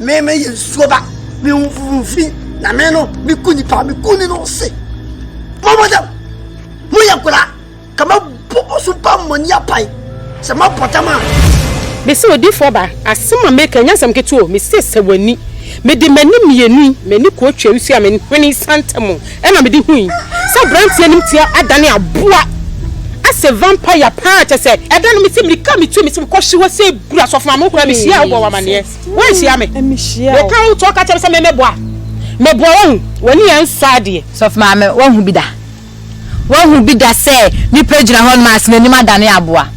Me me yɛ nsuo ba me ho fufu fi na me no me ku nipa me ku ne no se mo mo dɛm mo yɛ kura ka ma bɔ mo so pa mo ni apae sɛ ma bɔ dɛm a. Mese odifoɔ ba asɛm a meka nyɛ asɛm ketewa o mese sɛ w'ani mede m'ani mmienu yi m'ani kɔɔ twaa nsuo a me hwene sa ntɛm ɛna mede hui sɛ abranteɛ anim ti adane aboa asɛ vampire paa kyɛ sɛ ɛda no mese mirika metu mese mekɔ hye hɔ sɛ buru asɔfo maame wo koraa me hyiaa wobɔ wɔ amaneɛ. Woanhyia me. Meka wo to ɔka kyerɛ me sɛ memmɛboa. Meboa woahu. W'ani yɛ nsɔ adeɛ. Sɔfo Maame, woahu bi da? Woahu bi da sɛ nipa gyina hɔnom a n'anim adane aboa?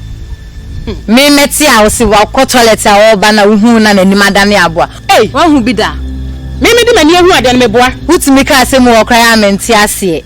Me mɛte a wose wakɔ toilet a ɔreba na wohuu na n'anim adane aboa. Woahu bi da? Me mede m'ani ahu adeɛ no, meboa. Wotumi ka asɛm mu hɔ koraa a mente aseɛ.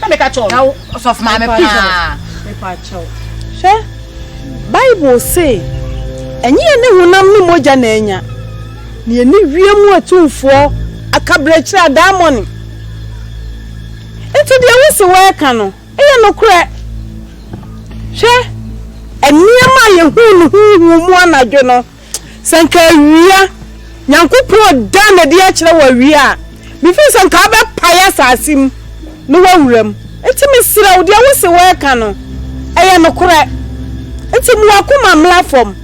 na meka kyɛw na ɔsɔfo maame paa mepa kyɛw hwɛ bible se ɛnyɛ yɛ ne honam ne mogya na anya na yɛ ne wiem atumfoɔ akaberɛkyerɛ adaamɔne nti deɛ wo se wɔɛka no ɛyɛ nokorɛ hwɛ nneɛma a yɛhuu no huhu mu anadwo no Sɛ anka awia, Nyankopɔn dan n'adi akyerɛ wɔ awia a, mefiri sɛ anka wobɛpae asase mu na woawura mu. Enti mesrɛ wo, deɛ wose woreka no, ɛyɛ nokorɛ. Enti mu w'akoma mmra fam,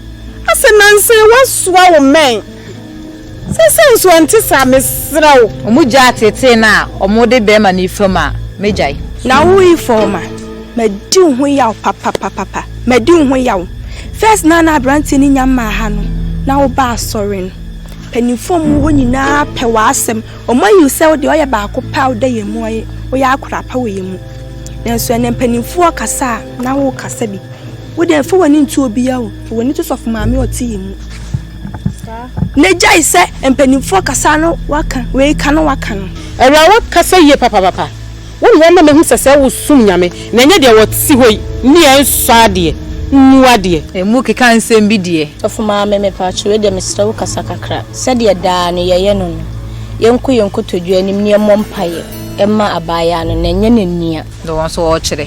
ase nanse woasoa wo mmɛn. Sɛsɛɛ nso ɛnte saa mesrɛ wo. Ɔmo gyaa teetee no a ɔmo de bɛɛma no yi fam a mɛgyae. Na wo yi fam a madi wo ho yaw papapapapa madi wo ho yaw first na na abranteɛ no nya mmaa ha no na wo ba asɔre no mpaninfoɔ ɔmo wɔ hɔ nyinaa pɛ w'asɛm ɔmo ayi wo sɛ wo deɛ ɔyɛ baako pɛ a woda yɛn mu ɔyɛ woyɛ akora pa wɔ yɛn mu nanso ɛnɛ mpaninfoɔ kasa a na wo kasa bi wo deɛ nfa w'ani nto obiara o fa w'ani to sɔfo maame ɔte yɛn mu. Na gyae sɛ mpanimfoɔ kasa no waka wei ka no waka no. Awuraa wakasa yie papapapa wo na wama mahu sɛ sɛ wo som Nyame na ɛnyɛ deɛ wɔte hɔ yi ne ɛnsɔ adeɛ nnu adeɛ. Ɛmu keka nsɛm bi deɛ. Sɔfo Maame mepatwo wei deɛ mesrɛ wo kasa kakra sɛdeɛ daa no yɛyɛ no no yɛnkɔ yɛn nkotodwe anim na yɛmmɔ mpaeɛ mma abaayaa no na ɛnyɛ n'ania. Deɛ wɔn nso wɔkyerɛ.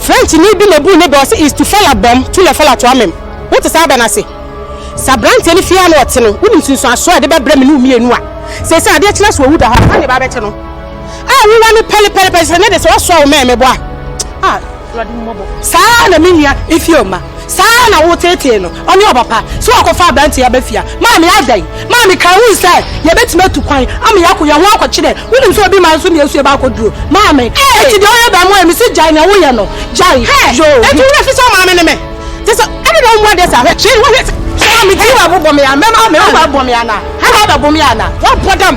Frenchni bi na obuu ne bɛ, ɔse, il tu fait la bombe, tu l'as fait la toi-meme. Wote saa bɛ no ase? Sɛ aberanteɛ no fie ara na ɔte no, wonim nsunsuansoɔ a ɛde bɛbrɛ me ne wo mmienu a seesei adeɛ kyena so owu da hɔ a, saa na ɛba abɛte no a wowɔ no pɛlepɛlepɛ, sɛ ɛnnɛ deɛ sɛ woasoa wo mɛɛmebɔ a, ah, Awurade hu mmɔbɔ. Saa ara na me nua Ifeoma, Saa ara na woteetee no, ɔne ɔpapa, sɛ wɔakɔfa aberante yi aba fie a. Maame, adɛn? Maame, Kae hu sɛ yɛbɛtumi atu kwan ama yɛakɔ yɛn ho akɔkyerɛ. Wonim sɛ obi man nso na esua baako duro. Maame, Enti deɛ woyɛ bɛn mmoa yɛ? Mese gyae nea woyɛ no. Gyae. Hɛɛ! Yoo. Enti wo werɛ fi sɛ wo maame ne me? Te sɛ, ɛne na wommu adeɛ saa. Hwɛ, hwɛ, hwɛ, hwɛ! Sɛ maame ti wabobɔ me a, mɛma wo me ho abɔ me anaa? Hɛɛ, wabɛbo me anaa? Woabɔ dam!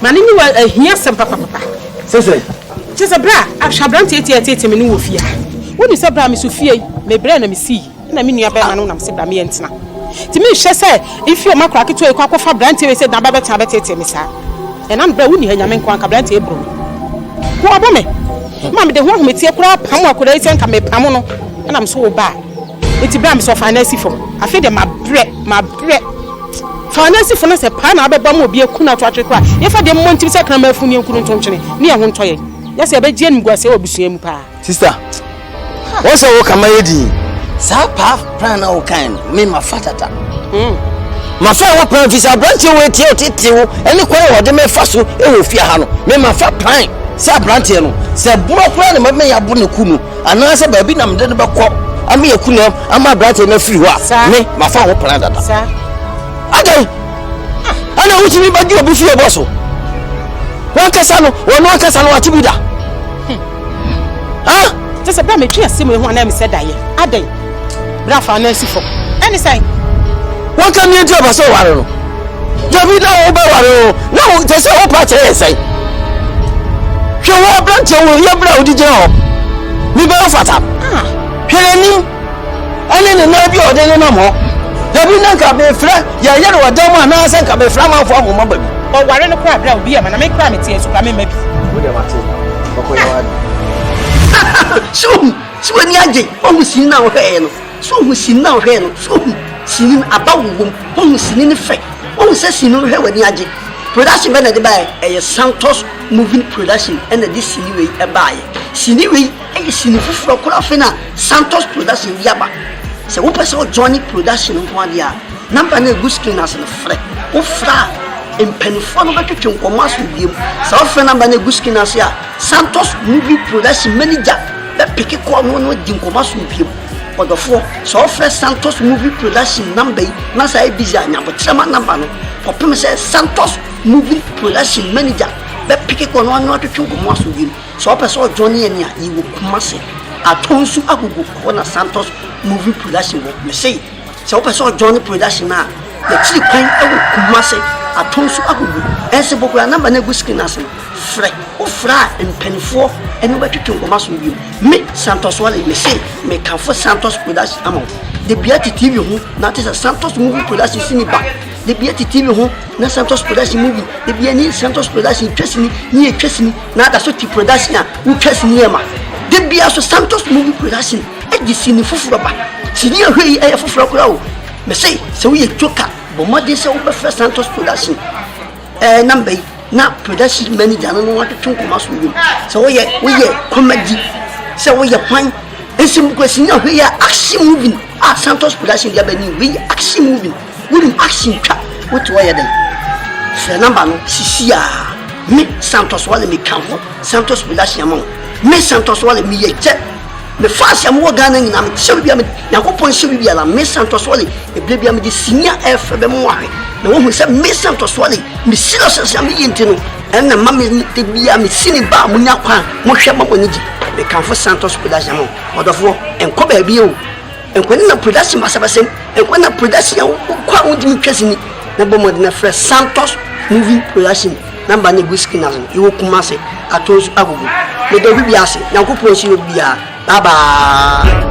Ma ne niwa ahia sɛm papapapa. Sɛ sɛ. Kyerɛ sɛ berɛ a, a, hwɛ aberanteɛ ti a ɛteetee me no wɔ fie ha. Wonim sɛ berɛ a meso fie yi, mebrɛ na mesii, ɛna me nua barima no nam se bra me yɛ ntena. Nti menhwɛ sɛ mfiri ɔma akora ketewa yi kɔ akɔfa aberanteɛ wei sɛ na aba bɛtena abɛteetee me saa. Ɛna no berɛ a wonni ha Nyame nko anka aberanteɛ yi boro me. Ho abɔ me. Ma mede ho ahometeɛ koraa pamo akora yi sɛ nka mepamo no ɛna meso wo ba a. Nti berɛ a meso ɔfaa no asi fam. Afei deɛ mabrɛ, mabrɛ. Faanasifo no sɛ paa na abɛbɔ ma obi aku no ato atwere koraa. Yɛmfa deɛ mmɔ ntim sɛ kraman afunu ne nkunu nto nkyene ne yɛn ho ntɔ yɛn, na sɛ ɛbɛgye animguaseɛ wɔ abusua mu paa. Sista, wɔn sɛ wo ka ma yɛ din. Saa paa pran na wo kan no, me ma fa tata. Mm. Ma fa ɛwɔ pran fi sɛ abranteɛ wɔ etie ɔtete wo ɛne kwan wɔ ɔde me fa so ɛwɔ fie ha no, me ma fa pran sɛ abranteɛ no sɛ borɔ koraa ne ma me yɛ abo ne ku no. Anaasɛ baabi na mede no bɛkɔ ama yɛaku no ama aberanteɛ no afiri hɔ a, me mafa ho pena dada. Adɛn? Ɛna wotumi bɛgye obi fie bɔ so. Wankasa no, wɔn ankasa no wate bi da. Hmm. Ha? Kyɛ sɛ bɛrɛ metwe ase mu ehu anaa mesɛ daeɛ. Adɛn? Bra fa nan si fam. Ɛne sɛn? Wanka nea nti ɔpɛ sɛ ɔware no. Dabi na wobɛware o. Na wo kyɛ sɛ wopa kyerɛ yɛ sɛn? Hwɛ wo aberanteɛ wo yɛ berɛ a wode gyina hɔ. Ne bɛyɛ fata. Ah. Hwɛ n'anim. Ɛne ne nan bi a ɔde nenam hɔ. Dabi na nka mefrɛ yɛyɛ no ɔdan mu anaasɛ nka mefrɛ amanfoɔ ahoma ba bi. Ɔware no koraa berɛ a obi yɛ ma na me koraa mete asu koraa memma bi. Wode mate. Ɔkɔyɛ wade. Sure. So w'ani agye? Woahu sini no a wohwɛe no? So wuhu sini no a wohwɛe no? So wuhu sini no? Aba wowom. Woahu sini no fɛ? Woahu sɛ sini no hwɛ w'ani agye? Production bɛn na ɛde baeɛ? Ɛyɛ Santos Moving Production na ɛde sini wei baeɛ. Sini wei yɛ sini foforɔ koraa afei na Santos Production de aba. Sɛ wopɛ sɛ wojoine production nko ara deɛ a, number no a ɛgu screen ase no frɛ. Wofrɛ a, mpanimfoɔ no bɛtwetwe nkɔmmɔ aso bio. Sɛ wofrɛ number no a ɛgu screen ase a, Santos Movie Production manager bɛpeke kɔɔ no ne no adi nkɔmmɔ asom biom. Ɔdɔfoɔ, sɛ wofrɛ Santos Movie Production number yi na sɛ ayɛ busy a, nya aboterɛ ma number no kɔpem sɛ Santos Movie Production manager bɛpeke kɔɔ no ne no atwetwe nkɔmmɔ asom biom. Sɛ wopɛ sɛ ɔjoine yɛn a, yɛwɔ Kumasi. Atɔnsu agogo, ɛhɔ na Santos Movie Production wɔ. Mese. Sɛ wopɛ sɛ ɔjoin production no a, yɛkyiri kwan wɔ Kumasi, Atonsu, Agugu, Nsibbo koraa. Number no gu screen no ase no, frɛ. Wofrɛ a, mpaninfoɔ ne wo bɛtwetwe nkɔmmɔ aso no bio. Me, Santos Wale, mese mekamfo Santos Productions ama wo. Da biara te TV ho na te sɛ Santos Movie Productions sini ba. Da biara te TV ho na Santos Productions movie. Da biara ni Santos Productions twa sini ne yɛtwa sini na ada so te production a wotwa sini yɛ ma. Da biara nso Santos Movie Productions Ɛde sini foforɔ ba. Sini a ɛhwɛ yi yɛ foforɔ koraa o. Mese sɛ woyɛ joker bɔ mmɔden sɛ wobɛfrɛ Santos production ɛɛ eh, namba yi na production manager no no watwetwe nkɔmɔ asom dwom sɛ woyɛ woyɛ comedy sɛ woyɛ kwan nso mu kɔ sini a hwɛ yɛ action movie a Santos production de aba ni hwɛ yɛ action movie wonim action twa wote wɔyɛ dɛn frɛ namba no sisi a me Santos wale meka ho Santos production ama wo me Santos wale meyɛ gyɛ Me fast a me wɔ Ghana nyinaa me hyɛ bibia me Nyankopɔn hyɛ bibia la me Santos Wally ɛbere bia me de sini a ɛfɛ bɛ mo ahwɛ na wɔn hu sɛ me Santos Wally me serious as a me yɛ nti no ɛna ma me de bia me sini ba mo nya kwan mo hwɛ ma mo ani gye me kanfo Santos Production mo ɔdɔfoɔ ɛnkɔ baabi o Nkwa Nna Production Basabasam Nkwa Nna Production a wokɔ a wontumi ntwa sini na bɔ mmɔden na frɛ Santos Movie Production Namba no egu screen ase no yɛwɔ Kumase atɔ nsu agogo meda obi biara ase Nyankopɔn nhyira obi biara bye bye